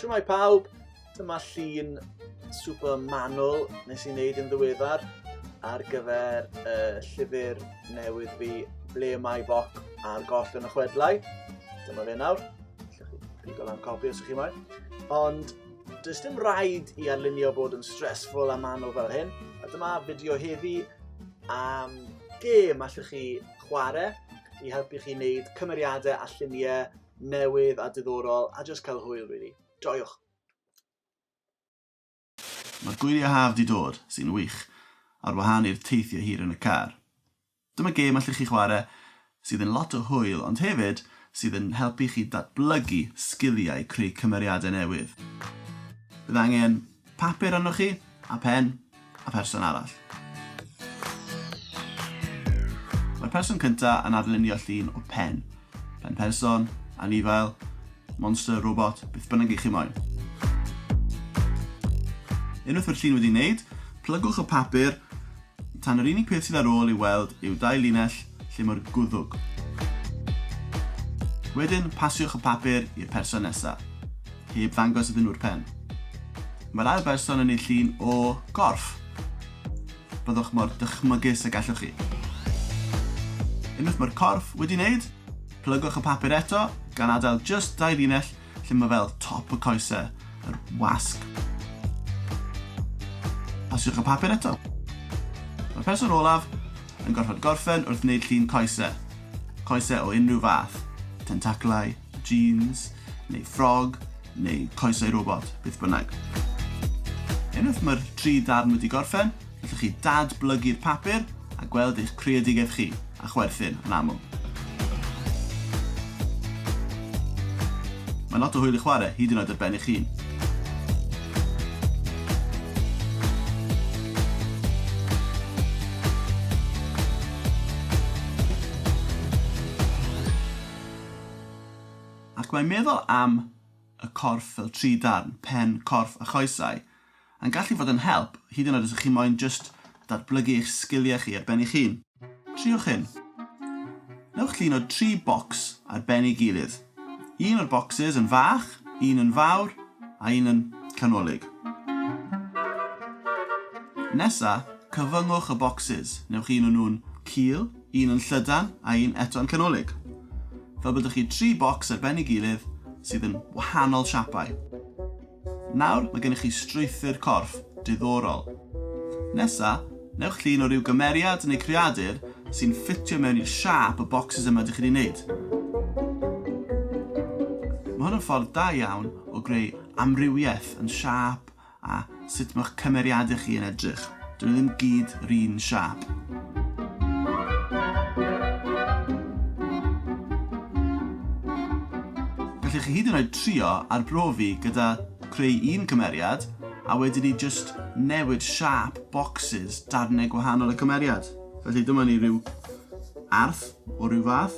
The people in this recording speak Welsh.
Shwmae pawb, dyma llun super manwl nes i wneud yn ddiweddar ar gyfer y llyfr newydd fi Ble Mae Boc a'r Goll yn y Chwedlau. Dyma fe nawr. Lle chi pigo lan copi os ych chi moyn. Ond does dim rhaid i arlunio bod yn stressful a manwl fel hyn. A dyma fideo heddi am gêm allwch chi chwarae i helpu chi wneud cymeriadau a lluniau newydd a diddorol a jyst cael hwyl rili. Joiwch! Mae'r gwyliau haf di dod, sy'n wych, ar wahân i'r teithio hir yn y car. Dyma gêm allwch chi chwarae sydd yn lot o hwyl ond hefyd sydd yn helpu chi datblygu sgiliau creu cymeriadau newydd. Bydd angen Papur arnoch chi, a phen, a pherson arall. Mae'r person cyntaf yn adlunio llun o pen. Pen person, anifail, monster, robot, beth bynnag i chi moyn. Unwaith mae'r llun wedi wneud, plygwch y papur Tan yr unig peth sydd ar ôl i'w weld yw dau linell lle mor gwddwg. Wedyn, pasiwch y papur i'r person nesa, heb ddangos iddyn nhw'r pen. Mae'r ail berson yn ei llun o gorff. Byddwch mor dychmygus y gallwch chi. Unwaith mae'r corff wedi wneud, plygwch y papur eto, gan adael jyst dau linell lle mae fel top y coesau, yr wasg. Pasiwch y papur eto. Mae'r person olaf yn gorfod gorffen wrth wneud llun coesau. Coesau o unrhyw fath, tentaclau, jeans, neu ffrog, neu coesau robot, beth bynnag. Unwaith mae'r tri darn wedi gorffen, Gallwch chi dad-blygu'r papur a gweld eich creadigaeth chi, a chwerthin, yn aml. Mae'n lot o hwyl i chwarae, hyd yn oed ar ben eich hun. Ac mae meddwl am y corff fel tri darn, pen, corff a choesau, yn gallu fod yn help, hyd yn oed os ych chi moyn jyst datblygu eich sgiliau chi ar ben eich hun. Triwch hyn. Newch llun o dri bocs ar ben ei gilydd. Un o'r bocsys yn fach, un yn fawr, a un yn canolig. Nesa, cyfyngwch y bocsys. Newch un o nhw'n cul, un yn llydan, a un eto'n canolig. Fel bod 'da chi tri bocs ar ben ei gilydd sydd yn wahanol siapau. Nawr, mae gennych chi strwythur corff diddorol. Nesa, newch llun o ryw gymeriad neu greadur sy'n ffitio mewn i'r siâp y bocsys yma dych chi 'di wneud. Mae hwn yn ffordd da iawn o greu amrywiaeth yn siâp a sut mae'ch cymeriadau chi yn edrych. Dyn nhw ddim gyd run siâp. Gallech chi hyd yn oed trio arbrofi gyda creu un cymeriad a wedyn ni jyst newid siâp bocsys darnau gwahanol y cymeriad. Felly dyma ni ryw arth o ryw fath.